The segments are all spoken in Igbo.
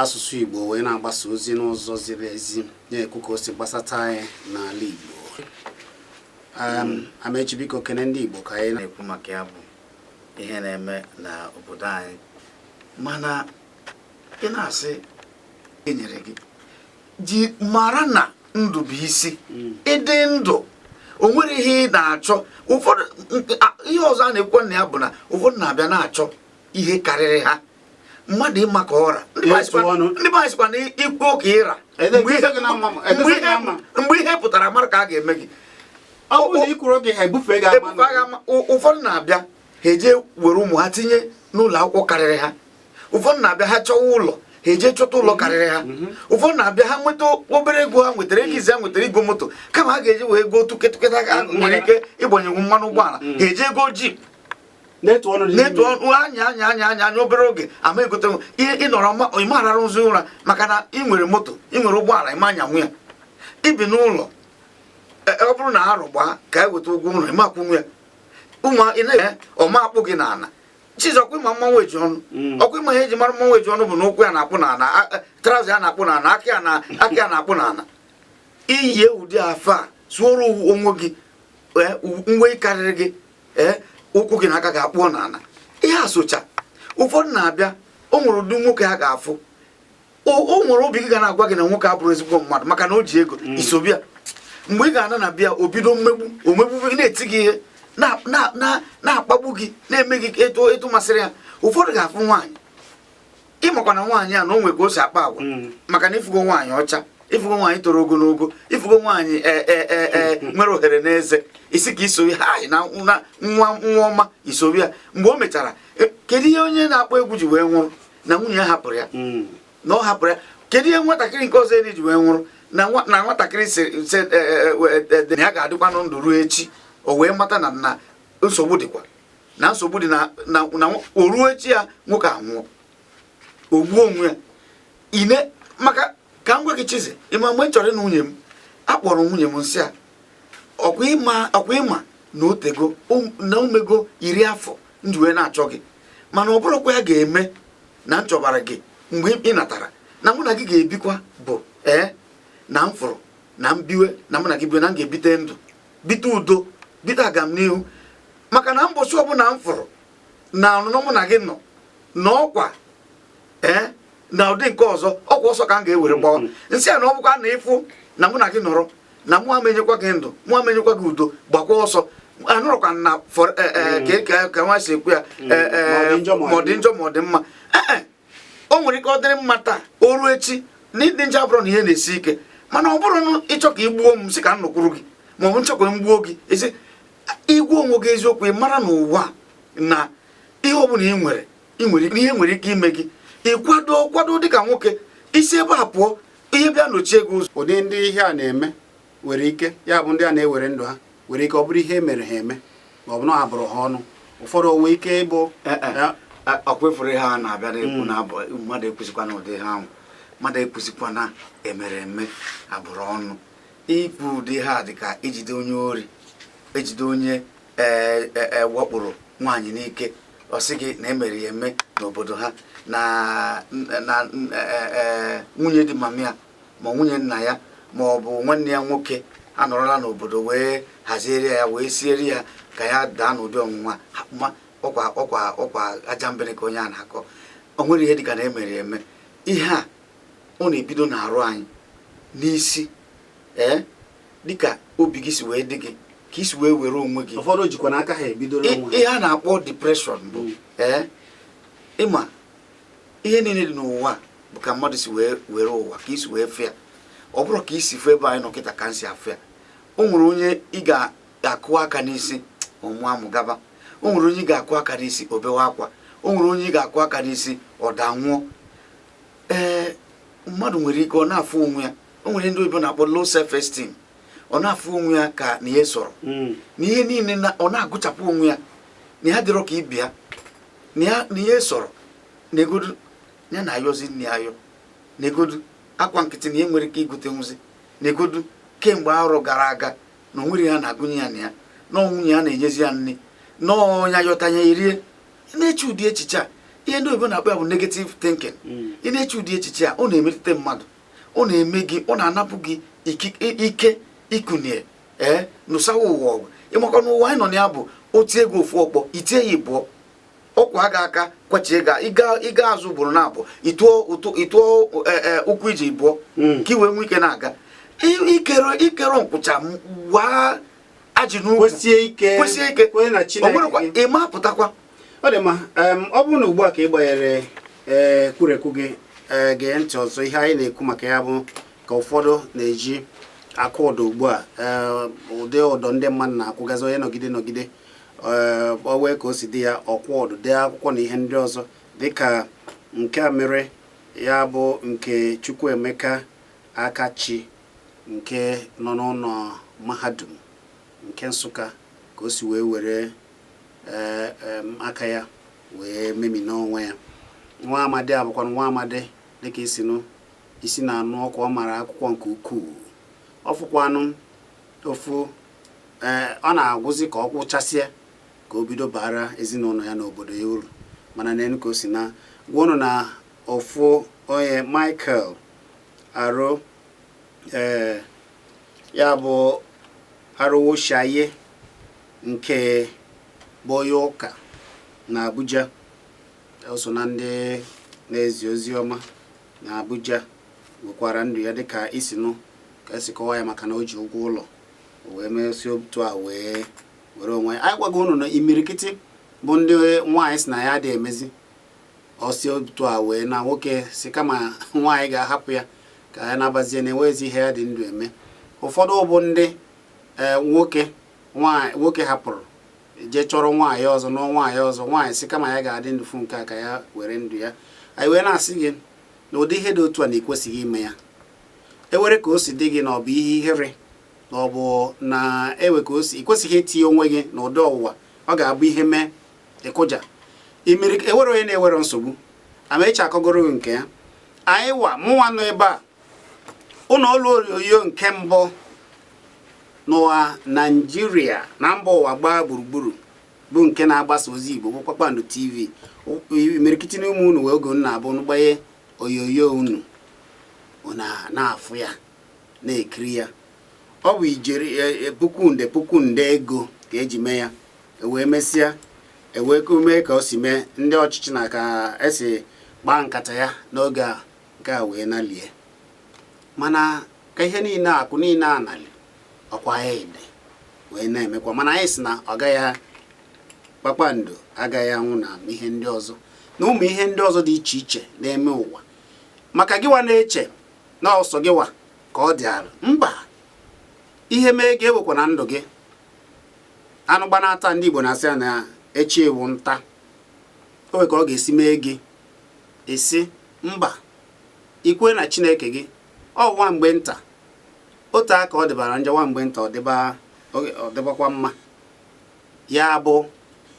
asụsụ Igbo wee na-agbasa ozi n'ụzọ ziri ezi na-ekwu ka o si gbasata anyị n'ala Igbo Amechi biko kene ndị Igbo ka anyị na-ekwu maka ya bụ ihe na-eme na obodo anyị mana ị na-asị enyere gị ji mara na ndụ bụ isi hmm. ịdị ndụ o nwere ihe ị na-achọ ụfọdụ ihe ọzọ a na-ekwu na ya bụ na ụfọdụ na-abịa na-achọ ihe karịrị ha mmadụ ịma ka ọ ra ndị be anyị sịkwa na i kwuo ka ị ra mgbe ihe pụtara mara ka a ga-eme gị ụfọdụ na-abịa ha eje were ụmụ ha tinye n'ụlọ akwụkwọ karịrị ha ụfọdụ na-abịa ha chọwa ụlọ ha eje chọta ụlọ karịrị ha mhm. ụfọdụ na-abịa ha nweta obere ego ha nwetara ego izi ha nwetara egoo moto kama ha ga-eji wee ego tụketụketa ha nwere ike ịgbanyenwu mmanụ ụgbọala mhm. ha eje egoo jeep na-etu ọnụ dị na-etu ọnụ anya anya anya anya anya obere oge ama egote ị nọrọ ị ma ararụzi ụra maka na ị nwere moto ị nwere ụgbọala ị ma anyanwu ya i bi n'ụlọ e, e, ọ bụrụ na arọ gbaa ka e weta ụgwọ ụlọ ị ma akwụnwu ya ụmụ ị na-enye ọma akpụ gị n'ala Chizzy ọkwa ị ma mmanwụ ojiọnụ mm. ọkwa ị ma ihe e ji mara mmanwụ ojiọnụ bụ na ụkwụ ya na-akpụ n'ala e, traụza ya na-akpụ n'ala aka ya na-akpụ n'ala i yi ụdị afe a sụọrọ onwe gị uwe karịrị gị ee ụkwụ gị na aka gị akpụọ n'ala ihe asocha ụfọdụ na-abịa o nwere ụdị nwoke ha ga-afụ o nwere obi gị ga na-agwa gị na nwoke abụrọ ezigbo mmadụ maka na o ji ego mm. i sobe ya mgbe ị ga-ana na be ya o bido mmegbu o megbu gị na-eti gị ihe na-akpagbu gị na-eme gị etu masịrị ya ụfọdụ ga-afụ nwaanyị ị makwa na nwaanyị a na o nwe ka o si akpa agwa mm. maka na ị fụgo nwaanyị ọcha ị fụgo nwaanyị toro ogologo ị fụgo nwaanyị e, e, e, mm. nwere ohere n'eze ị sị ka iso ha na nwa nwa ọma i soro ya mgbe o mechara kedu ihe onye na-akpọ egwu ji wee nwụrụ na nwunye ya hapụrụ ya mm. na ọ hapụrụ ya kedu ihe nwatakịrị nke ọzọ eri ji wee nwụrụ na nwatakịrị sị na ya ga-adịkwanụ ndụ ruo echi o wee mata na na nsogbu dịkwa na nsogbu dị na o ruo echi ya nwoke anwụọ o gbuo onwe ya ine maka ka m gwa gị Chizzy ị ma mgbe m chọrọ ịnụ nwunye m akpọrọ nwunye m m sị ya ọkwa ị ma na o teego um, na o mego iri afọ m ji wee na-achọ gị mana ọ bụrọkwa ya ga-eme na m chọbara gị mgbe ị natara na mụ na gị ga-ebikwa bụ ee na m fụrụ na m biwe na mụ na gị biwe na m ga-ebite ndụ bite udo bite agamnihu maka na mbọchị ọbụla m fụrụ na ọnụnọ mụ na gị nọ na ọkwa ee eh, na ọ dị nke ọzọ ọkwa ọsọ ka m ga-ewere gbawa mm-hmm. m sị ya na ọ bụkwa na ị fụ na mụ na gị nọrọ na mụ ama enyekwa gị ndụ mụ ama enyekwa gị udo gbakwa ọsọ anọrọkwa na eh, eh, mm-hmm. ka nwa si ekwu ya ma ọ dị njọ ma ọ dị mma o nwere ike ọ dịrị mma taa o ruo echi na ịdị njọ abụrụ na ihe na-esi ike mana ọ bụrụ na ị chọ ka ị gbuo m si ka m nọkwuru gị ma ọ bụ m chọ ka m gbuo gị ezi ị gwa onwe gị eziokwu ị mara n'ụwa na ihe ọ bụla ị nwere ihe nwere ike ime gị ị kwado kwado dịka nwoke i si ebe a pụọ ihe bịa nọchie gị ụzọ ụdị ndị ihe a na-eme nwere ike ya bụ ndị a na-ewere ndụ ha nwere ike ọ bụrụ ihe mere ha eme ma ọ bụ na a bụrụ ha ọnụ ụfọdụ o nwe ike ịbụ eh, eh, eh, ọkwa ị fụrụ ihe a na-abịa na-ekwu hmm. na abụ mmadụ ekwuzikwana ụdị ihe ahụ mmadụ ekwuzikwa na e mere eme a bụrụ ọnụ ikwu ụdị ihe a dị ka ijide onye ori e jide onye wakporo e, e, nwaanyị n'ike ọ sị gị na e mere ya eme n'obodo ha na e, nwunye di mama ya ma nwunye nna ya ma ọ bụ nwanne ya nwoke anọrọla n'obodo wee haziere ya wee siere ya ka ya daa n'ụdị ọnwụnwa ma ọkwa ọkwa ọkwa ajambene ka onye a na-akọ o nwere ihe dịka na e mere eme ihe a ọ na-ebido na-arụ anyị n'isi ee dịka obi gị si wee dị gị ka i si wee were onwe gị ụfọdụ jikwa n'aka ha ebido ihe a na-akpọ depression bụ ee ịma ihe niile dị n'ụwa bụ ka mmadụ si wee were ụwa ka i si wee fụ ya ọ bụrọ ka i si fụ ebe anyị nọ kịta ka m si afụ ya o nwere onye ị ga-akụ aka n'isi ọ mụọ amụ gaba o nwere onye ị ga-akụ aka n'isi o bewe akwa o nwere onye ị ga-akụ aka n'isi ọ daa nwụọ ee mmadụ nwere ike ọ na-afụ onwe ya o nwere ndị oyibo na-akpọ low self esteem ọ na-afụ onwe ya ka na ya esoro hmm. na ihe niile ọ na-agụchapụ onwe ya na ya dịrọ ka ibe ya na ya na ya esoro negodu ya na-ayọzi nni ayọ negodu akwa nkịtị na ya enwerọ ike igotenwuzi negodu kemgbe arọ gara aga na onwere ya na-agụnye ya na ya na ọ nwunye ya na-enyezi ya nni na ọ nya yọta nya erie ị na-eche ụdị echiche a ihe ndị oyibo na-akpọ ya bụ negative thinking hmm. ị na-eche ụdị echiche a ọ na-emetụta mmadụ ọ na-eme gị ọ na-anapụ gị ike ikunie ee nụsawa ụwa ọgụ ị makwa na ụwa anyị nọ na ya bụ o tie gị ofu ọkpọ i tie ya ịbụọ ọ kwaa gị aka kwachie gị ị gaa azụ ugboro na abụọ ị tụọ e, e, ụkwụ iji ịbụọ hmm. ka i wee nwee ike na-aga i kere nkwụcha waa ajị n'ukwu kwesie ike kwesie ike onwerekwa ịma pụtakwa ọ dị mma ọ bụrụ na ugbu a ka ị gbanyere e, kwurekwu gị gee ntị ọzọ ihe anyị na-ekwu maka ya bụ ka ụfọdụ na-eji akwụ ụdọ ugbu a eh, ụdị ụdọ ndị mmadụ na-akwụgazi onye nọgide nọgide eh, o nwee ka o si dị ya ọ kwụọ ụdọ dee akwụkwọ na ihe ndị ọzọ dịka nke a mere ya bụ nke Chukwuemeka Akachi nke nọ n'ụlọ mahadum nke Nsụka ka o si wee were eh, aka ya wee memina onwe ya nwa amadi a bụkwa nwa amadi dịka i si nụ isi na-anụ ọkụ ọ mara akwụkwọ nke ukwuu ọ fọkwanụ ofu ee eh, ọ na-agụzi ka ọ gụchasịa ka o bido bara ezinụlọ ya na obodo ya uru mana nenụ ka o si naa gwa unu na ofu onye Michael Aro ee eh, ya bụ Arowosaiye nke bụ onye ụka na Abuja o so na ndị na-ezi ozi ọma na Abuja wekwara ndụ ya dịka i si nụ ka esi kọwa ya maka na o ji ụgwọ ụlọ wee mesi otu a wee were onwe ya anyị gwago unu na imirikiti bụ ndị nwaanyị sị na ya adị emezi o si otu a wee naa nwoke sị kama nwaanyị ga-ahapụ ya ka ya nabazie na enwezi ihe ya dị ndụ eme ụfọdụ bụ ndị e, nwoke nwoke hapụrụ jee chọrọ nwaanyị ọzọ nụọ nwaanyị ọzọ nwaanyị sị kama ya ga-adị ndụ fụ nke a ka ya were ndụ ya anyị wee na-asị gị na ụdị ihe dị otu a na ekwesịghị ime ya enwere ka o si dị gị na ọ bụ ihe ihere na ọ bụ na enwe ka o si i kwesịghị itinye onwe gị na ụdị ọnwụnwa ọ ga-abụ ihe mee ị kụja enwere onye na-enwerọ nsogbu Amaechi akọgoro gị nke ya anyịwa mụnwa nọ ebe a ụlọ ọrụ onyonyo nke mbụ n'ụwa naijiria na mba ụwa gbaa gburugburu bụ nke na-agbasa ozi igbo bụ kpakpando tv imirikiti n'ime unu nwee oge unu na-abụ unu gbanye onyonyo unu na-afụ ya na-ekiri ya ọ bụ ijeri e, e, puku nde puku nde ego ka eji mee ya ewee mesịa ewee mee ka o si mee ndị ọchịchị na ka esi gbaa nkata ya n'oge a nke a wee nalie mana ka ihe niile akụ niile a nali ọkwa ya ede wee na-emekwa mana anyị sị na ọ gaghị kpakpando agaghị anwụ na ihe ndị ọzọ na ụmụ ihe ndị ọzọ dị iche iche na-eme ụwa maka gịwa na-eche na ọ sọ gịwa ka ọ dị alọ mba ihe mee gị ewekwana ndụ gị anụ gbanaa taa ndị Igbo na-asị ya na echi wụ nta o nwee ka ọ ga-esi mee gị ị sị mba ị kwere na chineke gị ọ nwa mgbe nta otu aka ọ dịbara njọ nwa mgbe nta ọ dịbakwa mma ya bụ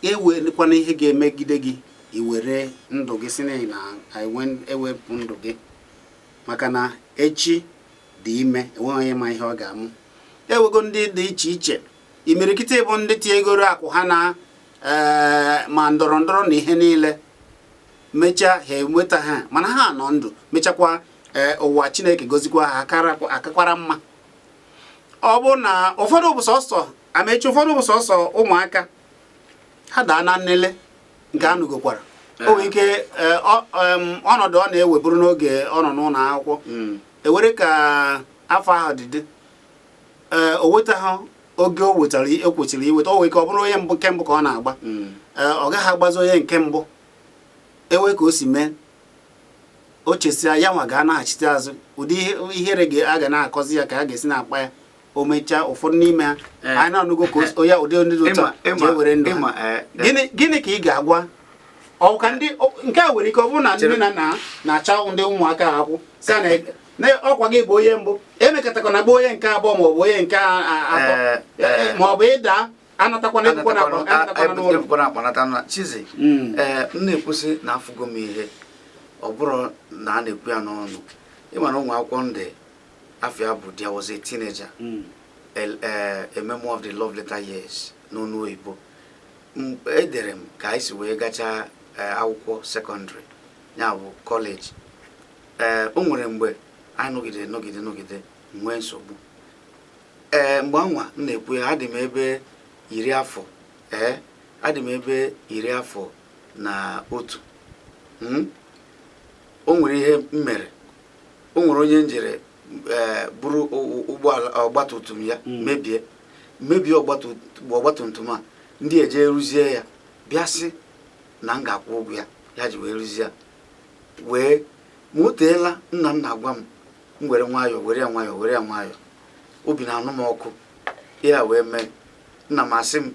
enwekwana ihe ga-emegide gị ị were ndụ gị sị na ị na-ewepụ ndụ gị maka na echi dị ime enweghị onye ma ihe ọ ga-amụ e nwego ndị dị iche iche imirikiti bụ ndị tinyegoro akụ ha na eh, ma ndọrọ ndọrọ na ihe niile mechaa ha enwetaghị mana ha nọ ndụ mechakwa eh, ụwa chineke gozikwa ha akakwara mma ọbụna ụfọdụ bụ sọsọ amechi ụfọdụ bụ sọsọ ụmụaka ha daa na nlele nke a nụgokwara eh. o nwere ike ọnọdụ ọ na-enweburu n'oge ọ nọ n'ụlọ akwụkwọ hmm. e nwere ka afọ ahụ dị dị ee o nwetaghị oge o nwetara o kwesịrị inweta o nwere ike ọ bụrụ onye mbụ nke mbụ ka ọ na-agba mm. ee ọ gaghị agbazi onye nke mbụ e nwee ka o si mee o chesịa ya nwa ga-anaghachite azụ ụdị ihere a ga na-akọzi ya ka a ga-esi na-akpa ya o mechaa ụfọdụ n'ime ha eh. anyị na-anụgo ka onye ụdị ndị dị otu a ji ewere ndụ ha eh. gịnị ka ị ga-agwa ọka ndị nke a nwere ike ọ bụrụ na nne na nna na-acha ndị ụmụaka ọkụ sị na na ọkwa ị ga-abụ onye mbụ emekatakwana gba onye nke abụọ ma ọ bụ onye nke atọ ma ọ bụ ịda anatakwana ebukwana akpa nata chizi hmm. ee m na-ekwu sị na afụgo m ihe ọ bụrụ na a na-ekwu ya n'ọnụ ị ma na o nwere akwụkwọ m dere afa ya bụ there was a teenager hmm. a memoir of the love letter years n'ọnụ oyibo edere m ka anyị si wee gachaa akwụkwọ sekọndịrị ya bụ kọleji ee o nwere mgbe anyị nọgide nọgide nọgide nwee nsogbu ee mgbe anwa m na-ekwu ya adị m ebe iri afọ ee adị m ebe iri afọ na otu hmm? o nwere ihe m mere o nwere onye m jere ee buru ụgbọala ọgbatumtum ya hmm. mebie mebie ọgbatumtum a ndị eje rụzie ya bịa sị na m ga-akwụ ụgwọ ya ya ji wee rụzie ya wee ma o teela nna m na-agwa m m were nwayọọ were ya nwayọọ were ya nwayọọ obi na-anụ m ọkụ ya wee mee nna m asị m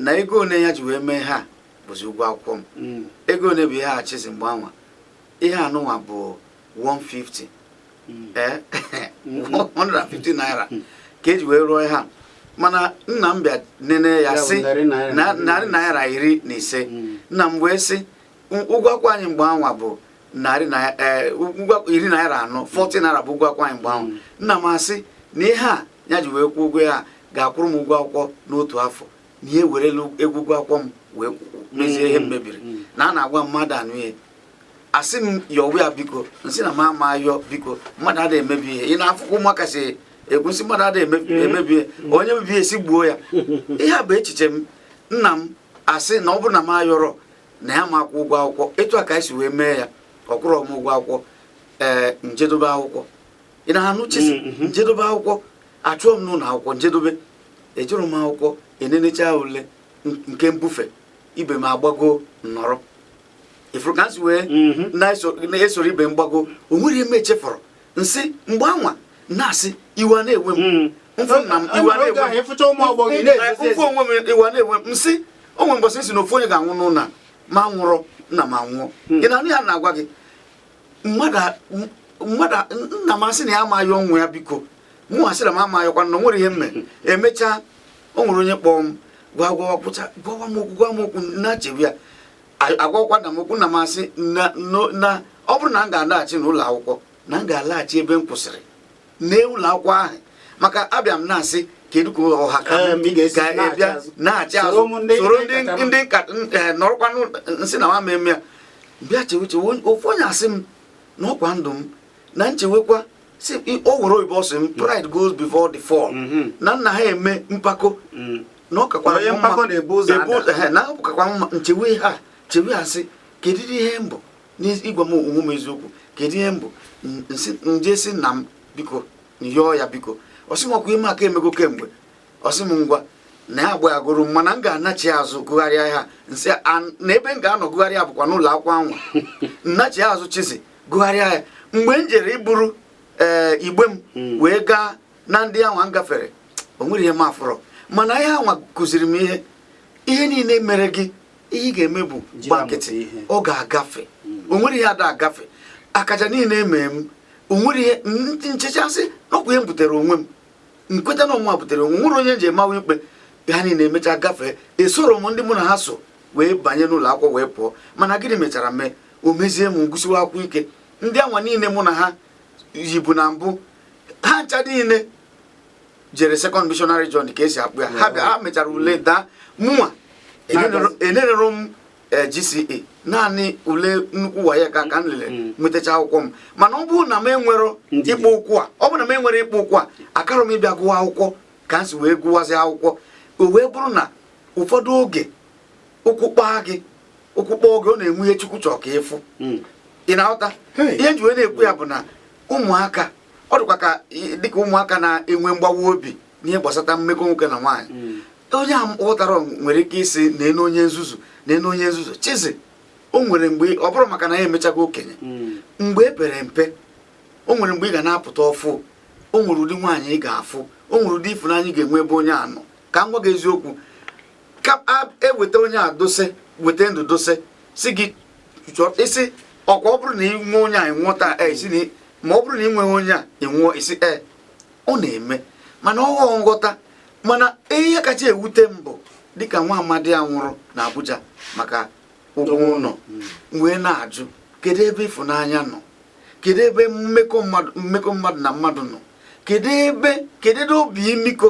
na ego one ya ji wee mee ha bụzi ụgwọ akwụkwọ m mm. ego one bụ ihe a chizi mgbe anwa ihe anụnwa bụ 150 mm. ee 150 eh? naira mm. ka e ji wee rụọ ha mana nna m bịa nene ya sị narị naira iri na ise nna m wee sị ụgwọ akwụkwọ anyị mgbe anwa bụ narị e, iri naira anọ 40 naira bụ ụgwọ akwụkwọ anyị mgbe anwa nna m asị na ihe a ya ji wee kwụọ ụgwọ ya ga-akwụrụ m ụgwọ akwụkwọ n'otu afọ na ya werela ego ụgwọ akwụkwọ m wee mezie ihe m mebiri na a na-agwa m ada anụ ihe a sị m yọwa ya biko nsị na m ama yọ biko mmadụ ada emebi ihe ị na-afụkwa ụmụaka si ekwu nsị mmadụ ada mm-hmm. emebi ihe onye mebie a sị gbuo ya ihe a bụ echiche m nna m asị na ọ bụrụ na m ayọrọ na ya ama akwụ ụgwọ akwụkwọ etu a ka anyị si wee mee ya ọ kwụrụ m ụgwọ akwụkwọ ee njedobe akwụkwọ ị na-anụ chizi mm, mm-hmm. njedobe akwụkwọ a chụọ m n'ụlọ akwụkwọ njedobe ejụrụ m akwụkwọ enenecha ule nke mbufe ibe m agbago nnọrọ ị fụrụ ka m si wee mm-hmm. na-esoro ibe m gbago o nwere ihe m echefọrọ nsị mgbe anwa na-asị iwe na-ewe m mm. o nwee mbọsị nsị na ofu onye ga-anwụ n'ụlọ m anwụrọ nna m anwụọ hmm. ị na-anụ ihe a na-agwa gị nna m asị na m ayọwe ya biko mụ asị na m ama yọkwa na o nwere ihe m mee hmm. emechaa o nwere onye kpọọ m gwa gwawa kwụcha gwawa m okwu gwa m okwu na-echebe ya a gwakwa nna m okwu nna m asị na ọ bụrụ na m ga-alaghachi n'ụlọ akwụkwọ na m ga-alaghachi ebe m kwụsịrị n'ụlọ akwụkwọ ahụ maka abịa m na-asị kedu ka ọha ka m bịa nachi azụ soro ndị eh, nọrọkwa nsị na mụwa ama eme ya m bịa chewe chewe ofu onye asị m na ọkwa ndụ m na nchewekwa si o were oyibo ọsị m pride goes before the fall mm-hmm. na m naha eme mpako mm. na ọ kakwara mma na ọ kakwara mma nchewe ha chewe asị kedu ihe m bụ n'ịgwa m onwe m eziokwu kedu ihe m bụ nje si nna m biko yọọ ya biko ọsị m ọkwa ihe m ka emego kemgbe ọsị m ngwa na ya agbayagoro m mana m ga-anachi azụ gụgharịa ha nsị na ebe m ga-anọ gụgharịa bụkwa n'ụlọ akwụkwọ anwa nnachi azụ chizi gụgharịa ya mgbe m jere iburu ee eh, igbe m hmm. wee gaa na ndị anwa m gafere o nwere ihe m afụrọ mana ihe anwa kụziri m ihe ihe niile mere gị ihe ị ga-eme bụ gba nkịtị ọ ga-agafe o nwere ihe ada agafe akaja niile emee m o nwere ihe nchechaa sị na ọkwa ihe m butere onwe m nkweta na ọ mụwa butere onwe nwere onye m je amawa ikpe ha niile emechaa gafee esoro m ndị mụ na ha so wee banye n'ụlọ akwụkwọ wee pụọ mana gịnị mechara mee o mezie m ngụsiwa akwụkwọ ike ndị anwa niile mụ na ha yibu na mbụ ha ncha niile jere second missionary journey ka e si akpọ ya ha bịa ha mechara ule mm. daa mụnwa enerero m eh, GCE naanị ule nnukwu WAEC ka ka m lere mm. nwetacha akwụkwọ m mana ọ bụrụ na m enwero ịkpọ ụkwụ a ọ bụrụ na m enwero ịkpọ ụkwụ a akarọ m ịbịa gụwa akwụkwọ ka m si wee gụwazi akwụkwọ o wee bụrụ na ụfọdụ oge ụkwụ kpaa gị ụkwụ kpaa oge ọ na-enwe ihe Chukwu chọọ ka ị fụ mm. ị na-aghọta ihe nji wee na-ekwu ya bụ na ụmụaka ọ dịkwa ka dịka ụmụaka na-enwe mgbawa obi n'ihe gbasata mmekọ nwoke na nwaanyị hmm. onye aghọtarọ nwere ike ịsị neenụ onye nzuzu neenụ onye nzuzu Chizzy o nwere mgbe ọ bụrụ maka na ya emechago okenye hmm. mgbe e pere mpe o nwere mgbe ị ga na-apụta ọfụụ o nwere ụdị nwaanyị ị ga-afụ o nwere ụdị ịfụnanya ị ga-enwe ebe onye a nọ ka m gwa gị eziokwu ka e weta onye a dosie weta ndụ dosie sị gị ị sị ọkwa ọ bụrụ na ị nwee onye a ị nwụọ taa e, ị sị na ma ọ bụrụ na ị nweghị onye a ị nwụọ ị sị ee ọ na-eme mana ọghọ nghọta mana ihe kacha ewute m bụ dịka nwa amadi a nwụrụ na Abuja maka ụgwọ ụlọ wee na-ajụ kedu ebe ịfụnanya nọ kedu ebe mmekọ mmadụ na mmadụ nọ kedu ebe kedu ebe obi imiko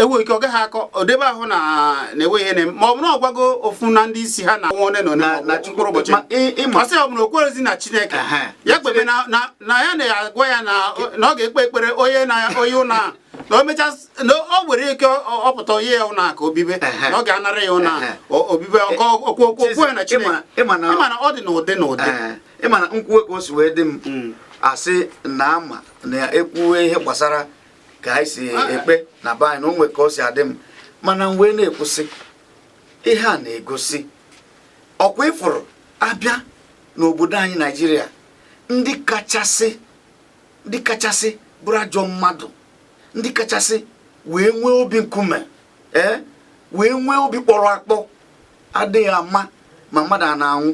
enweghị ike ọ gaghị akọ odebe ahụ na na-enwe ihe na-eme ma ọ bụ na ọ gwago ofu na ndị isi ha na nwa one na one Na- na Chukwu- mkpụrụ ụbọchị ma ị- ị ma- ọ sị ọ bụ na o kwerezi na Chineke Ehe. ya kpebe na na- na ya na-agwa ya na na ọ ga-ekpe ekpere onye na onye ụnọ na o mecha na o nwere ike ọ- ọ pụta onye ya ụnọ ka o bibe Ehe. na ọ ga-anara ya ụna Ehe. o- obibe ọkọ okwu okwu okwu ya na Ị Chineke ma- ị ma na- Ị ma na ọ dị n'ụdị n'ụdị Ee, ị ma na m kwuwe ka o si wee dị m asị na ama na ekwuwe ihe gbasara ka anyị si ekpe na be anyị na o nwe ka o si adị m mana m wee na-ekwusi ihe a na-egosi ọkwa ị fụrụ a bịa n'obodo anyị Naijiria ndị kachasị ndị kachasị bụrụ ajọ mmadụ ndị kachasị wee nwee obi nkume ee wee nwee obi kpọrọ akpọ adịghị ama ma mmadụ ọ na-anwụ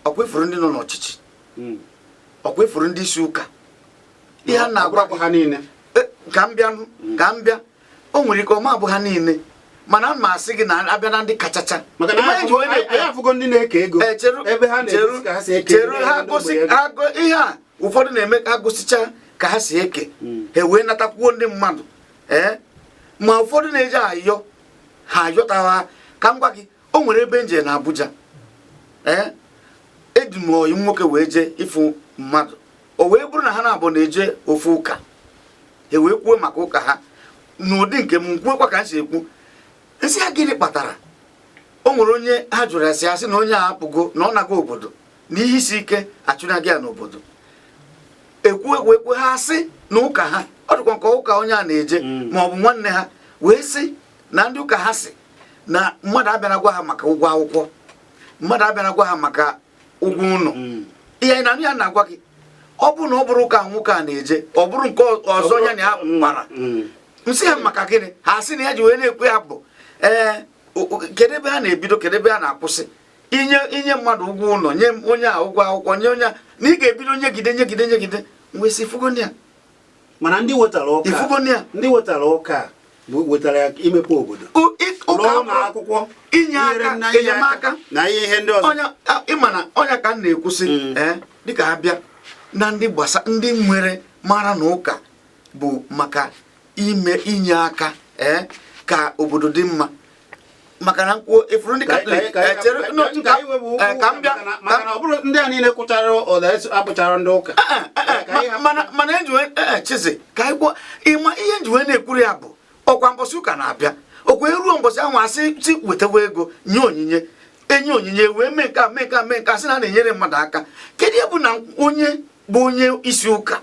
ọkwa ị fụrụ ndị nọ n'ọchịchị hmm. ọkwa ị fụrụ ndị isi ụka ihe a na-agwa gị ha niile e, ka m bịa ka m bịa o nwere ike ọ ma abụ ha niile mana m asị gị na a bịa na ndị kachacha cheru ha gosi ihe a ụfọdụ na-eme ka gosicha ka ha si eke hmm. ha wee natakwuo ndị mmadụ ee eh? ma ụfọdụ na-eji ayọ ha ayọtawa ka m gwa gị o nwere ebe nje na Abuja ee eh? eji m ọyị nwoke wee jee ịfụ mmadụ o wee bụrụ na ha na-abụ na-eje ofu ụka ha wee kwuo maka ụka ha n'ụdị nke m kwuokwa ka m si ekwu m sị ha gịnị kpatara o nwere onye ha jụrụ ya sị na onye a apụgo na ọ nago obodo na ihe isi ike achụnaghị ya n'obodo ekwu ekwu ekwu ha sị na ụka ha ọ dịkwa nke ụka onye a na-eje mm. ma ọ bụ nwanne ha wee sị na ndị ụka ha sị na mmadụ abịara gwa ha maka ụgwọ akwụkwọ mmadụ abịara gwa ha maka ụgwọ ụlọ mm. ihe na ya na-agwa gị ọ bụrụ na ọ bụrụ ụka nwoke a na-eje ọ bụrụ nke ọzọ ya na ya kpara mm. m sị ha maka gịnị ha sị na ya ji wee na-ekwu ya bụ ee kedu ebe ha na-ebido kedu ebe ha na-akwụsị inye inye mmadụ ụgwọ ụlọ nye onye a ụgwọ akwụkwọ nye onye a na ị ga-ebido nyegide nyegide nyegide m wee sị ị fugo ya mana ndị wetara ụka ndị wetara ụka wetara ya imepe obodo akwụkwọ inye aka enyemaka na ihe ndị ọzọ ị ma na ọ nya ka m na-ekwusi mm. eh, dịka ha bịa na ndị gbasa ndị nwere mara na ụka bụ maka ime inye aka ee eh, ka obodo dị mma maka na m kwuo ị furu ndị katọlik ka m bịa mana ọ bụrụ ndị a niile kwụchara ụda abụchara ndị ụka eh, eh, eh, mana m ji wee Chizzy ka anyị kwuo ị ma ihe m ji wee na-ekwuru ya bụ ọkwa mbọsị ụka na-abịa ọkwa e ruo mbọsị ahụ a sị sị wetawa ego nye onyinye e nye onyinye wee mee nke a mee nke a mee nke a sị na a na-enyere mmadụ aka kedu ihe bụ na onye bụ onye isi ụka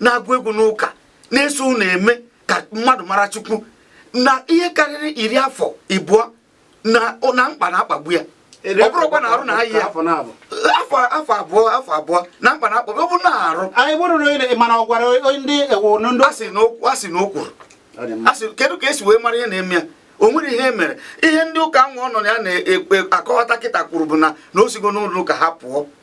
na-agụ egwu n'ụka na-esoro eme ka mmadụ mara chukwu na ihe karịrị iri afọ ịbụọ na mkpa na-akpagbu ya ọ bụrụkwa na arụ na ahịa afọ abụọ afọ abụọ na mkpa na-akpagbu ọ bụ na-arụ anyị bụrụ na mana ọ gwara ndị ewu ndị a sị na o kwuru a sị kedu ka e si wee mara ihe na-eme ya o nwere ihe mere ihe ndị ụka nwa ọ nọ ya na-akọwata kịta kwuru bụ na na o sigo n'ụlọ ụka ha pụọ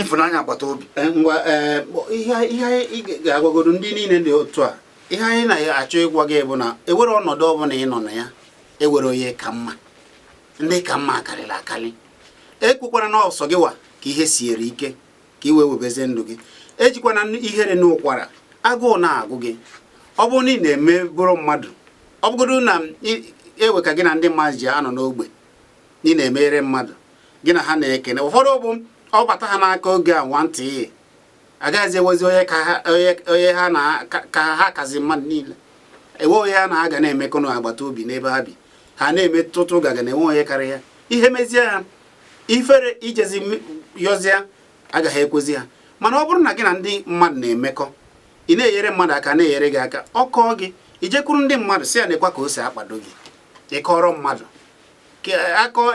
ịfụnanya agbata obi eh, ngwa eh, ihe ị ga-agwagodo ndị niile dị otu a ihe anyị na-achọ ịgwa gị bụ na e nwere ọnọdụ ọbụla ị nọ na ya e nwere onye ka mma ndị ka mma a karịrị akarị ekwukwana na ọ sọ gị nwa ka ihe siere ike ka i wee webezie ndụ gị ejikwana ihere noo ụkwara agụụ na-agụ gị ọ bụrụ na ị na-emebụrụ mmadụ ọ bụgodo na e nwee ka gị na ndị mmadụ ji anọ n'ogbe ị na-emere mmadụ gị na ha na-ekene ụfọdụ bụ ọ bata ha n'aka oge a nwantịị agaghịzi enwezi onye ha na ka ha kazi mmadụ niile enwe onye ha na ha ga na-emekọ n'agbata obi n'ebe ha bi ha na-eme tụtụ gaga na enwe onye karịa ya ihe mezie ha ifere ijezi yọzie agaghị ekwezi ha mana ọ bụrụ na gị na ndị mmadụ na-emekọ ị na-enyere mmadụ aka a na-enyere gị aka ọ kọọ gị i jekwuru ndị mmadụ sị ha nekwa ka o si akpado gị ịkọrọ mmadụ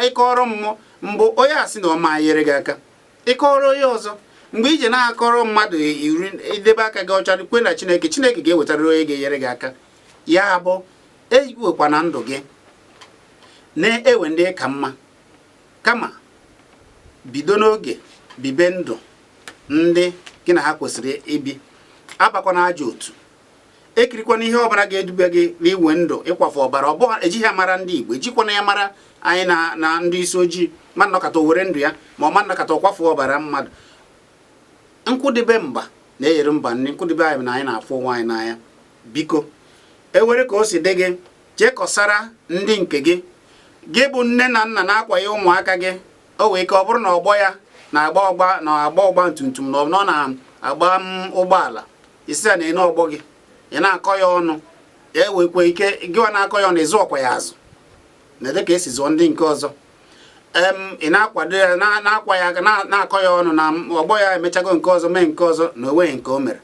ịkọrọ mmụọ mgbe onye a sị na ọ ma nyere gị aka ịkọrọ onye ọzọ mgbe i ji na-akọrọ mmadụ iri idebe aka gị ọcha kwe na chineke chineke ga-ewetara onye ga-enyere gị aka ya bụ ewekwana ndụ gị na iwe ndụ ka mma kama bido n'oge bibe ndụ ndị gị na ha kwesịrị ibi abakwana ajọ otu ekirikwana ihe ọbara ga-edube gị n'iwe ndụ ịkwafu ọbara ọ bụghị ejighị ya mara ndị Igbo ejikwana ya mara anyị na na ndị isi ojii mmadụ nọkata o were ndụ ya ma ọ mmadụ nọkata ọ kwafuo ọbara mmadụ nkwụdebe mba na-eyere mba nri nkwụdebe anyị na anyị na-afụ onwe anyị n'anya biko e nwere ka o si dị gị je kọsara ndị nke gị gị bụ nne na nna na-akwanye ụmụaka gị o nwee ike ọ bụrụ na ọgbọ ya na-agba ọgba na-agba ọgba tum tum na ọ na-agba ụgbọala ị sị ya nene ọgbọ gị ị na-akọ ya ọnụ e nwekwa ike gịwa na-akọ ya ọnụ ị zụọkwa ya azụ na dịka esi zụọ ndị nke ọzọ ị na-akwado ya na-akwa ya na-akọ ya ọnụ na ọgbọ ya emechago nke ọzọ mee nke ọzọ na onweghị nke o mere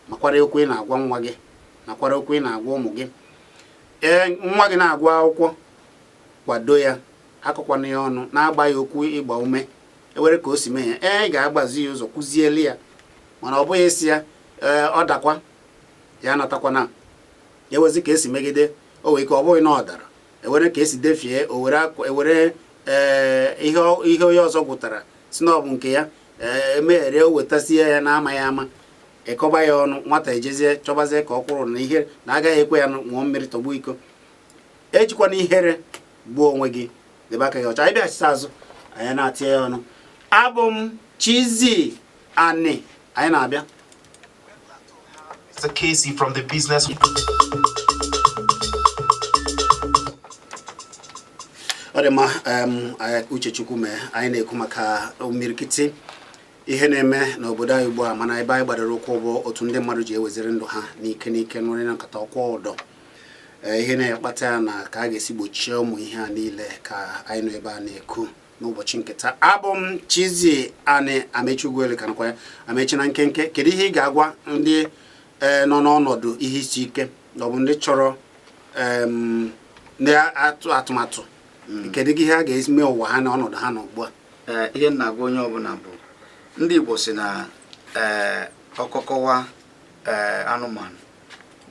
makwara okwu ị na-agwa nwa gị makwara okwu ị na-agwa ụmụ gị ee nwa gị na-agụ akwụkwọ kwado ya akọkwana ya ọnụ na-agwa ya okwu ịgba ume e nwere ka o si mee ya ị ga-agbazi ya ụzọ kụzieli ya mana ọ bụghị ị sị ya ee ọ dakwa ya anatakwana e nwezie ka esi megide o nwee ike ọ bụghị na ọ dara e nwere ka esi defie e were ee ihe onye ọzọ gụtara sị na ọ bụ nke ya ee emeghere o wetazie ya na amaghị ama ị kọba ya ọnụ nwata ejezie chọbazie ka ọ kwụrụ na ihe na agaghị ekwe ya ṅụọ mmiri tọgbọ iko ejikwana ihere gbuo onwe gị debe aka gị ọcha anyị bịachite azụ anyị na-etinye ya ọnụ abụ m Chizzy Ani anyị na-abịa Casey from the business ọ dị mma uche Chukwu mee anyị na-ekwu maka imirikiti ihe na-eme n'obodo anyị ugbu a mana ebe anyị gbadoro ụkwụ bụ otu ndị mmadụ ji eweziri ndụ ha n'ike n'ike onye nọkata ọ kwụọ ụdọ Eh, ihe na-akpata ya na ka a ga-esi gbochie ụmụ ihe a niile ka anyị nọ ebe a na-ekwu n'ụbọchị nketa abụ m Chizzy Ani Amechi Ugwuele ka nọkwa ya Amechi na nkenke kedu ihe ị ga-agwa ndị eh, nọ n'ọnọdụ ihe isi ike na ọ bụ ndị chọrọ ndị atụ atụmatụ hmm. kedu ihe ha ga-eme ụwa ha na ọnọdụ ha nọ ugbu a eh, ihe m na-agwa onye ọbụla bụ ndị Igbo sị na ọkọkọwa anụmanụ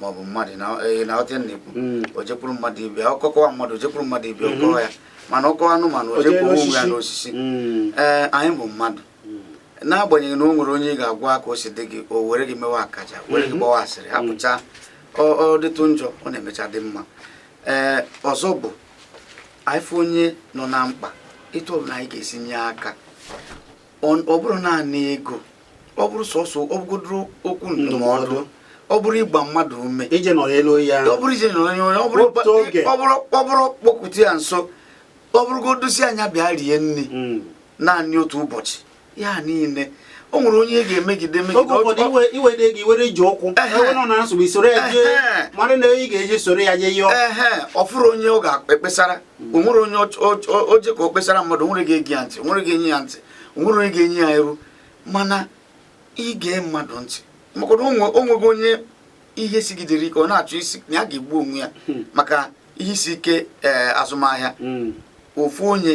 maọbụ mmadụ na eh, ọtị na-ekwu hmm. o jekwuru mmadụ ibe ya ọkọ kọwa mmadụ o jekwuru mmadụ ibe hmm. ọ kọwa ya mana ọ kọwa anụmanụ o jekwuru onwe ya n'osisi hmm. ee eh, anyị bụ mmadụ n'agbanyeghị na o nwere onye ị ga-agwa ka o si dị gị o were gị mewe akaja were gị gbawa asịrị hapụcha ọ dịtụ njọ ọ na-emecha dị mma ee eh, ọzọ bụ anyị fụ onye nọ na mkpa etu ọbụla anyị ga-esi nye aka ọ bụrụ naanị ego ọ bụrụ sọsọ ọ bụgodoro okwu ndụmọdụ ọ bụrụ ịgba mmadụ ume ije nọrọ elu ya ọ bụrụ ije nọrọ elu ọ bụrụ ọ bụrụ kpọkụta ya nso ọ bụrụgodu sị a nya bịa rie nri hmm. naanị otu ụbọchị ya niile o nwere onye e ga-emegide megide iwede gị were ji ụkwụ nọ na nsogbu i soro ya jee mara na ị ga-eji soro ya jee yọọ ọ fụrụ onye ọ ga-ekpesara o nwere onye o je ka o kpesara mmadụ o nwere ga-ege ya ntị o nwere ga-enye ya ntị o nwere onye ga-enye ya iru mana ige mmadụ ntị maka na o nwego onye ihe sigidere ike ọ na-achọ ịsị na ya ga-egbu onwe ya hmm. maka ihe isi ike eh, azụmahịa hmm. ofu onye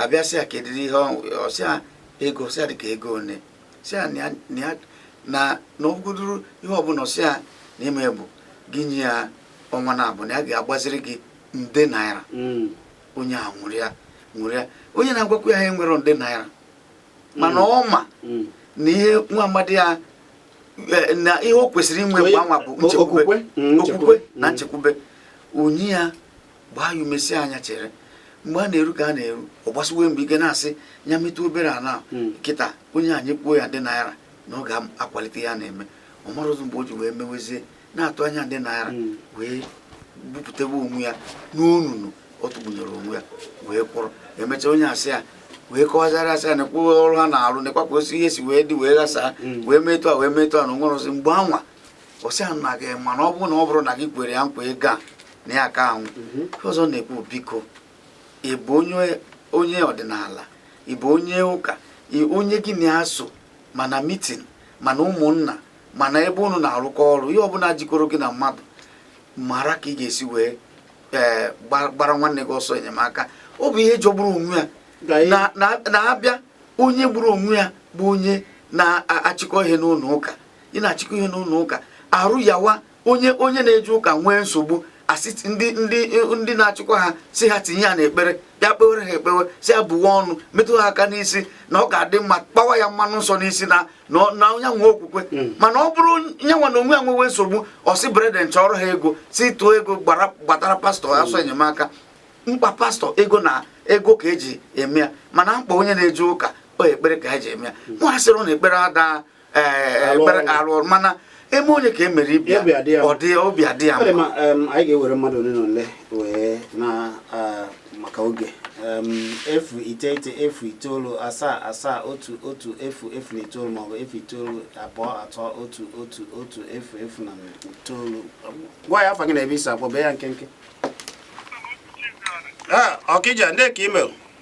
abịa sị ya kedụ ihe ọ sị ya ego ọ sị ya dịka ego one sị ya na ọ bụgodoro ihe ọbụla ọ sị ya na ime bụ gị nye ya ọnwa naabọ na ya ga-agbaziri gị nde naira hmm. onye ahụ ṅụrịa ṅụrịa onye na-agwakwa ya ihe a enwerọ nde naira mana hmm. ọ ma hmm. na ihe nwa amadị a e, na ihe o kwesịrị inwe mgbe anwa bụ nchekwube okwukwe na nchekwube onye a gbaa ya ume sị a nya chere mgbe a na-eru ka a na-eru ọ gbasiwe mbọ ike na-asị ya metụ obere a kịta onye a nyekwuo ya nde naira na ọ ga-akwalite ya na-eme ọ marọzi mgbe o ji wee mewezie na-atụ anya nde naira hmm. wee bupụtawa onwe ya n'onunu ọ tụbunyere onwe ya wee kwụrụ emechaa onye a sị ya wee kọwazara a sị ya nekwa ọrụ ha na-arụ nekwa ka osi ihe si wee dị wee gbasaa hmm. wee metụ a wee metụ a na o nwere ozi mgbe anwa ọ sị a na gị ma na ọ bụrụ na ọ bụrọ na gị kwere ya nkwa ego a na ya ka anwụ hmm. ọzọ na-ekwu biko ị bụ onye ọdịnala ị bụ onye ụka onye gị na ya so ma na mitin ma na ụmụnna ma n'ebe unu na-arụkọ ọrụ ihe ọbụla jikọrọ gị na mmadụ mara ka ị ga-esi wee ee eh, gbara nwanne gị ọsọ enyemaka ọ bụ ihe jọgburu onwe ya na a bịa onye gburu onwe ya bụ onye na-achịkọ ihe n'ụlọ ụka ị na-achịkọ ihe n'ụlọ ụka arụ yawa onye onye na-eje ụka nwee nsogbu a sị ndị ndị ndị na-achịkwa ha sị ha tinye ya n'ekpere bịa kpewere ha ekpewe sị ya buwa ọnụ metụ ha aka n'isi na ọ ga-adị mma kpawa ya mmanụ nsọ n'isi na na onye nwe okwukwe hmm. mana ọ bụrụ ya nwa n'onwe ya nwewe nsogbu ọ sị brethren chọọrọ ha ego sị tụọ ego gbatara pastọ ọsọ hmm. enyemaka mkpa pastọ ego na ego ka e ji eme ya mana mkpa onye na-eje ụka ọ ekpere ka ha ji eme ya hmm. nwa sịrị na ekpere ada alụ mana eme onye ka emere ibe ya ọdị obi adị ya mma anyị ga-ewere mmadụ ole na ole wee na maka oge efu iteghete efu itoolu asaa asaa otu otu efu efu na itoolu maọbụ efu itoolu abụọ atọ otu otu otu efu efu na itoolu gwa ya afa gị na ebe i si akpọ bee ya nkenke ọkija ndị ka imel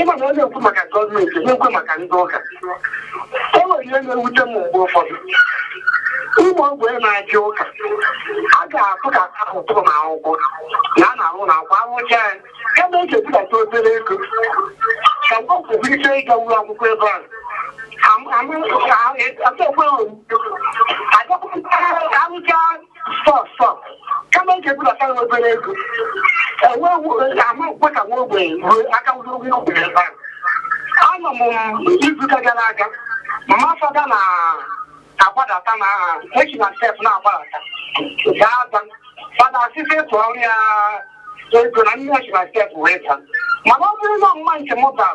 ị ma na ọ na-ekwu maka gọọmenti na-ekwu maka ndị ụka e nwere ihe na-ewute m mgbe ụfọdụ ụmụ ogbenye na-aga ụka a ga-atụ ka atụtụ na akwụkwọ na a na-arụ na akwa arụcha ya ebe e ga-ebudata obere ego ka mgbe kwesịrị ike ịga ụlọ akwụkwọ ebe ahụ stọk stọk kama eji ebudata ya obere ego enweghị ama ekwe ka nwa ogbenye ruo aka wụrụ nwa ogbenye ebe ahụ anọ m izuụka gara aga mama fada na-agbadata na-esi na step na-agbadata gaa daa fada asị sị tụọrọ ya ego na nne ya si na step wee daa mana ọ bụrụ na mama nke m bara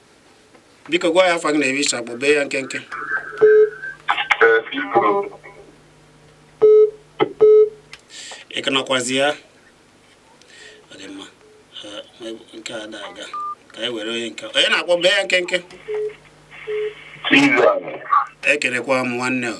biko gwa ya afa gị na ebe i si akpọ bee ya nkenke ị ka nọkwazi ya ọ dị mma nke a ada aga ka anyị were onye nke onye na-akpọ bee ya nkenke ekelekwa m nwanne o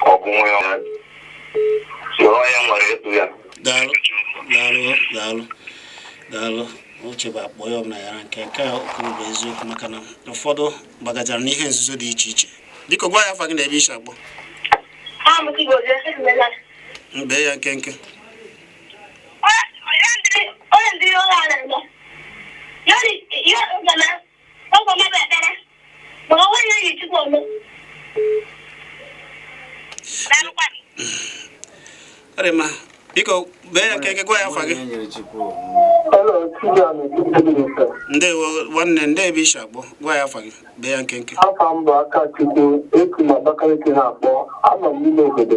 ọ bụ nwa ya soro ya nwere etu ya daalụ daalụ daalụ daalụ uche bụ akpa onye ọbụla nyara nke nke a kwuru bụ eziokwu maka na ụfọdụ bagachara n'ihe nzuzo dị iche iche biko gwa ya afa gị na ebe i si akpọ bee ya nkenke Ọ dị mma, biko bee ya nkenke gwa ya afa gị. Ndewo nwanne ndee ebe i si akpọ gwa ya afa gị bee ya nkenke. Afa m bụ Akachukwu esi m Abakaliki na-akpọ anọ m n'ime obodo.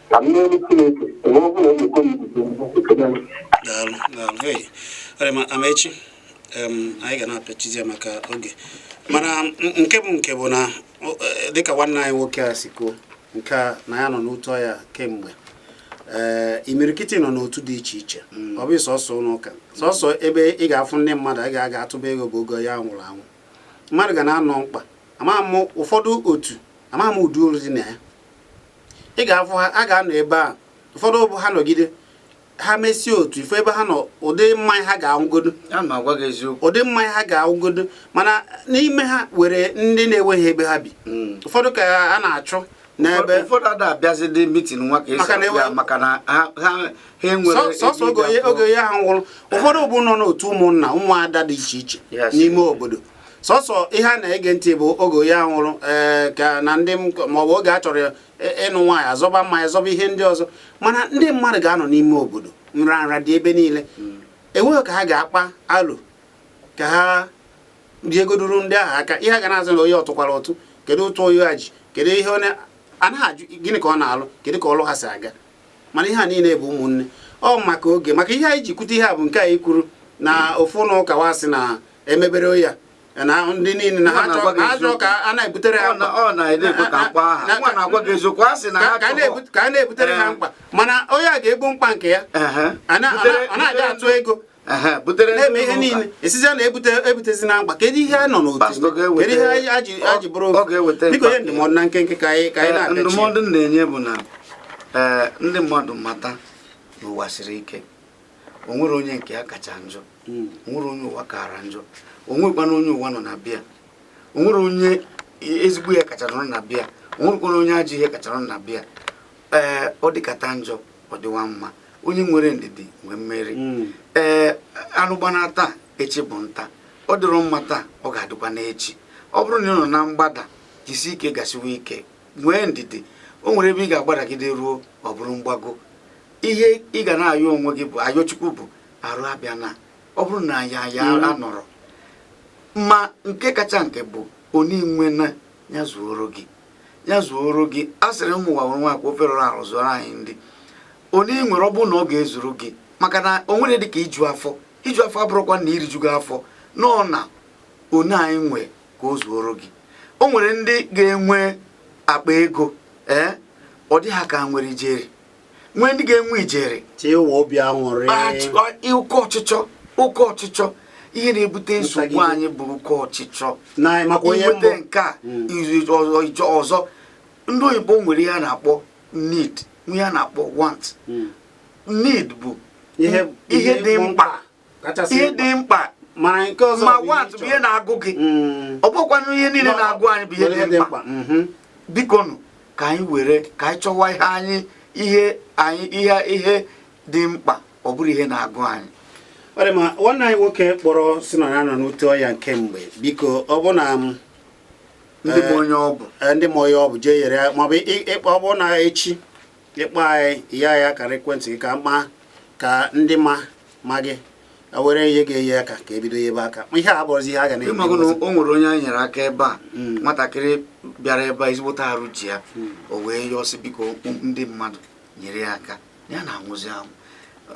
ka m n'elu Chineke mgbe ọ bụla emekọ m ekele m daalụ daalụ hey ọ dị mma Amaechi em, anyị ga na-apịachizi ya maka oge mana m- nke bụ nke bụ na o- eh, dịka nwanne anyị nwoke a si kwuo nke a na ya nọ n'otu ọya kemgbe ee imirikiti nọ n'otu dị iche iche ọ bụ sọsọ ụlọ ụka sọsọ ebe ị ga-afụ ndị mmadụ a ga-aga atụba ego bụ oge onye nwụrụ anwụ mmadụ ga na-anọ mkpa amaghị m ụfọdụ otu amaghị m ụdị uru dị na ya ị ga-afụ ha ha ga-anọ ebe a ụfọdụ bụ ha nọgide ha mesie otu ife ebe ha nọ ụdị mmanya ha ga-aṅụgodo ụdị mmanya ha ga-aṅụgodo mana n'ime ha nwere ndị na-enweghị ebe ha bi hmm. ụfọdụ ka a na-achụ n'ebe ụfọdụ ada abịazi dị mitin nwa ka esi abịa maka na ha enwere sọsọ oge onye ahụ nwụrụ ụfọdụ bụ nọ n'otu ụmụnna ụmụada dị iche iche n'ime obodo sọsọ ihe a na-ege ntị bụ oge onye nwụrụ ee eh, ka na ndị maọbụ oge a chọrọ eh, ịnụ nwaanyị a zọba mmanya zọba ihe ndị ọzọ mana ndị mmadụ ga-anọ n'ime obodo nra nra dị ebe niile enweghị ka ha ga-akpa alụ ka ha nyegoduru ndị ahụ aka ihe a ga na-ajụ na onye ọ tụkwara ụtụ kedu ụtụ onye a ji kedu ihe onye anaghị ajụ gịnị ka ọ na-alụ kedu ka ọlụ ha si aga mana ihe a niile bụ ụmụnne ọ maka oge maka ihe anyị ji kwute ihe a bụ nke anyị kwuru na ofu ụlọ ụka wa sị na e mebere ya na ndị niile na ha chọọ ka a na-ebutere ha ka a na-ebutere ha mkpa mana onye a ga-ebu mkpa nke ya a na-abịa atụ ego na-eme ihe niile a sịzị na ebutezina mkpa kedu ihe a nọ n'otu kedu ihe a ji bụrụ biko nye ndụmọdụ na nkenke ka anyị eh, na-apịachi ndụmọdụ na-enye bụ na eh, ndị mmadụ mata na ụwa siri ike o nwere onye nke ya kacha njọ hmm. o nwere onye ụwa kaara njọ o nwerekwana onye ụwa nọ na be ya o nwere onye ezigbo ihe kacha nọ na be ya o nwerekwana onye ajọ ihe kacha nọ na be ya ee ọ dịkata njọ ọ dịwa mma onye nwere ndidi nwee mmeri hmm. ee anụ gbana taa echi bụ nta ọ dịrọ mma taa ọ ga-adịkwa n'echi ọ bụrụ na ị nọ na mgbada jisi ike gasiwa ike nwee ndidi o nwere ebe ị ga-agbadagide ruo ọ bụrụ mgbago ihe ị ga na-ayọ onwe gị bụ ayọ chukwu bụ arụ abịana ọ bụrụ na ya ya mm. anọrọ ma nke kacha nke bụ one i nwe ya zuoro gị ya zuoro gị a sịrị ụmụ ụwa nwere nwaakwa ofe rụrụ arụ zụọrọ anyị ndị one i nwere ọ bụrụ na ọ ga-ezuru gị maka na o nwere dị ka iju afọ iju afọ abụrọkwa na i rijugo afọ nọọ na one anyị nwe ka o zuoro gị o nwere ndị ga-enwe akpa ego ee eh, ọ dị ha ka nwere ijeri nwee ndị ga-enwe ijeri chịwa obi aṅụrị oke ọchịchọ oke ọchịchọ ihe na-ebute nsogbu anyị bụ oke ọchịchọ i nweta nke a hmm. i je ọzọ ndị oyibo nwere ihe a na-akpọ need ihe a na-akpọ want hmm. need bụ ihe dị mkpa ịdị mkpa ma want bụ ihe na-agụ gị mm. ọ bụkwanụ ihe niile na-agụ anyị bụ ihe dị mkpa mm-hmm. bikonu ka anyị were ka anyị chọwa ihe anyị ihe anyị ihe ihe dị mkpa ọ bụrụ ihe na-agụ anyị ọ dị ma nwanne anyị nwoke kpọrọ sị na ya nọ n'ute ọya nke mgbe biko ọ bụ na mm, ndị ma eh, onye ọ bụ eh, ndị ma onye ọ bụ jee yere ya maọbụ ịkpọ ọ bụ na echi ị kpọọ anyị ye anyị akara ekwentị gị ka ma ka ndị ma ma gị were ihe ga-enye aka ka e bido yebe aka ihe a bụrụzi ihe a ga na ị mago na o nwere onye anyị nyere aka ebe a hmm. nwatakịrị bịara ebe a ezigbote arụ ji ya hmm. o wee yọọ sị biko ndị mmadụ nyere ya aka ya na-anwụzi anwụ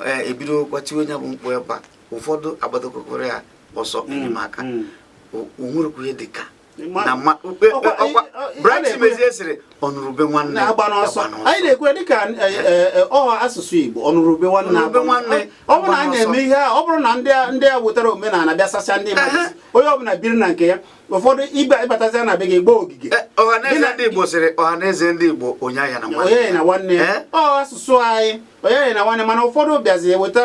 eh, e bidokwa tiwe onye bụ mkpu ebe a ụfọdụ agbadokọkọrọ ya ọsọ enyemaka o nwerekwa ihe dị ka na mma ukpe ọkwa Bright Chimezie sịrị ọ nụrụ ube nwanne agbana ọsọ anyị na-ekwe dịka e, e, e, ọ asụsụ Igbo ọ nụrụ ube nwanne agba nwanne ọ bụrụ na a na-eme ihe a ọ bụrụ na ndị a wetara omenala bịa sasịa ndị mmadụ onye ọbụla biri na nke ya ụfọdụ ibe ị batazia na be gị gbaa ogige ọhaneze ndị Igbo sịrị ọhaneze ndị Igbo onye aghana nwanne ya ọ asụsụ anyị onye aghana nwanne mana ụfọdụ bịazi eweta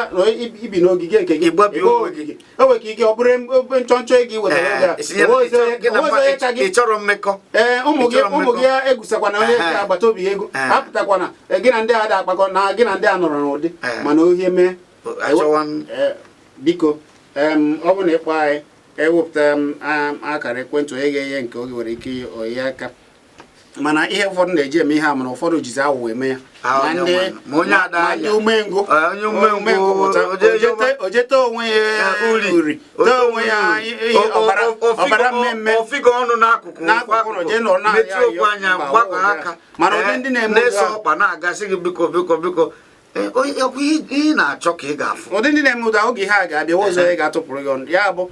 ibi n'ogige nke gị ịgba ogige o nwere ike ọ bụrụ nchọnchọ ego iwere ị chọrọ mmekọ ụmụ gị egwusakwana onye agbata obi ego apụtakwana gị na ndị a da akpakọ na gị na ndị a nọrọ n'udo mana ihe mee biko ọ bụ na ị kpọọ anyị e wepụta akara ekwentị onye ga-enye nke oge nwere ike nye aka mana ihe ụfọdụ na-eji eme ihe a mana ụfọdụ jizi awụwọ eme ya ah, ndị umengwụ ah, o jee tee onwe ya ah, uri tee onwe ya ọbara mmemme n'akụkụ ụzọ jee nọ na-ayọ mana ụdị eh, ndị na-eme ọkpa na a ga-asị gị biko biko biko Eh, ọkwa ihe ị na-achọ ka ị ga-afụ ụdị ndị na-eme ụda oge ha ga-abịa ụzọ ị ga-atụpụrụ ya ọnụ ya bụ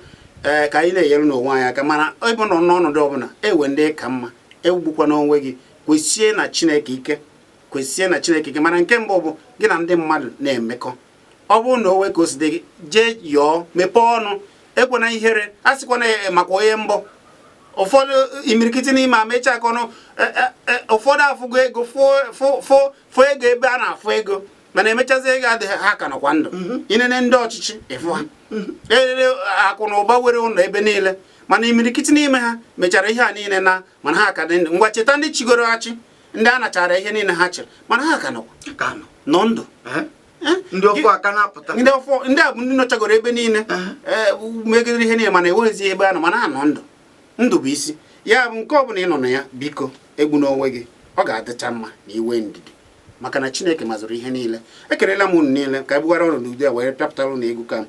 eh, ka anyị na-enyerenụ onwe anyị aka mana ịbụ nọ n'ọnọdụ ọbụla inwe ndụ ka mma egbukwana onwe gị kwesie na chineke ike kwesie na chineke ike mana nke mbụ bụ gị na ndị mmadụ na-emekọ ọ bụrụ na o nwee ka o si dị gị jee yọọ mepee ọnụ ekwana ihere asịkwana eh, maka onye m bụ ụfọdụ imirikiti n'ime ama ịcha aka ọnụ ụfọdụ afụgo ego fụ fụ ego ebe a na-afụ ego mana e mechazie ego adịghị ha ka nọkwa ndụ mhm. i nene ndị ọchịchị ị fụ ha mhm. nwere akụ na ụba nwere ụlọ ebe niile mana imirikiti n'ime ha mechara ihe a niile naa mana ha ka dị ndụ ngwa cheta ndị chịgoro achị ndị a nachara ihe niile ha chịrị mana ha ka nọkwa nọ ndụ ndị ọfụụ ka na-apụta ndị ọfụụ ndị a bụ ndị nọchagoro ebe niile megidere ihe niile mana enweghịzi ebe ha nọ mana ha nọ ndụ ndụ bụ isi ya bụ nke ọ bụla ị nọ na ya biko egbuna onwe gị ọ ga-adịcha mma na-enwe ndidi maka na chineke mazụrụ ihe niile ekelela m unu niile ka e bugara ọrụ n'uju a wee pịapụtara unu egwu ka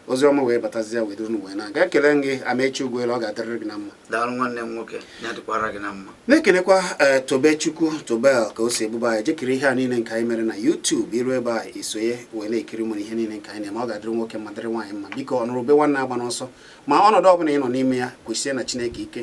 ozi ọma wee batazie wee duru wee na-aga ekele gị amaechi ugwuelu ọ ga-adịrịrị gị na mma daalụ nwanne m nwoke ya dịkwara gị na mma na-ekelekwa eh, tobechukwu tobel ka o si ebube anyị je kirie ihe a niile nke anyị mere na YouTube i rue ebe a i sonye wee na-ekiri mụrụ ihe niile nke anyị na-eme ọ ga-adịrị nwoke mma dịrị nwaanyị mma biko ọnụrụ ube nwanne agbana ọsọ ma ọnọdụ ọbụla ị nọ n'ime ya kwesie na chineke ike